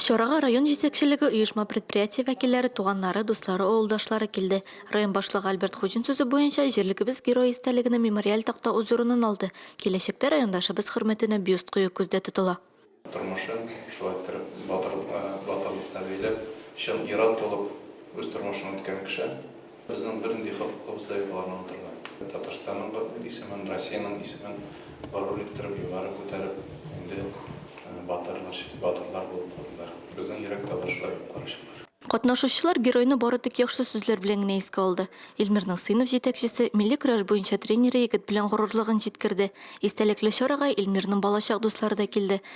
Чарага район җитәкчелеге, оешма-предприятие вәкилләре, туганнары, дуслары, авылдашлары килде. Район башлыгы Альберт Хуҗин сүзе буенча, җирлегебез Герое истәлегенә мемориаль такта үз урынын алды, киләчәктә райондашыбыз хөрмәтенә бюст кую күздә тотыла. Тормышын шулай иттереп батырлыкка бәйләп, чын ир-ат булып үз тормышын үткәргән кеше. Безнең бернинди хокукыбыз да юк аларны атырга. Татарстанның исемен, Россиянең исемен горур иттереп, югары күтәреп, инде батыр, батырлар булып калдылар. Безнең йөрәк тавышлар юк, карачылар. Катнашучылар геройны бары тик яхшы сүзләр белән генә искә алды. Илмирның сыйныф җитәкчесе, милли көрәш буенча тренеры егет белән горурлыгын җиткерде. Истәлекле чарага Илмирның балачак дуслары да килде.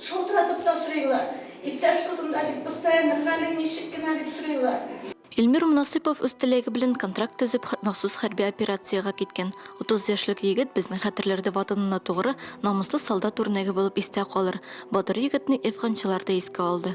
Шалтыратып та сорыйлар. Иптәш кызым да бит постоянно, хәлең ничек кенә дип сорыйлар. Илмир Монасыйпов үз теләге белән контракт төзеп, махсус хәрби операциягә киткән. Утыз яшьлек егет безнең хәтерләрдә ватанына тугры, намуслы солдат үрнәге булып истә калыр. Батыр егетне әфганчылар да искә алды.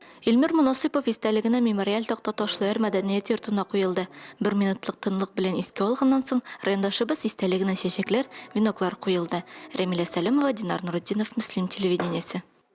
Илмир Монасыйпов истәлегенә мемориаль такта Ташлыяр мәдәният йортына куелды. Бер минутлык тынлык белән искә алганнан соң, райондашыбыз истәлегенә чәчәкләр, веноклар куелды. Рәмилә Сәләмова, Динар Нуретдинов, Мөслим телевидениесе.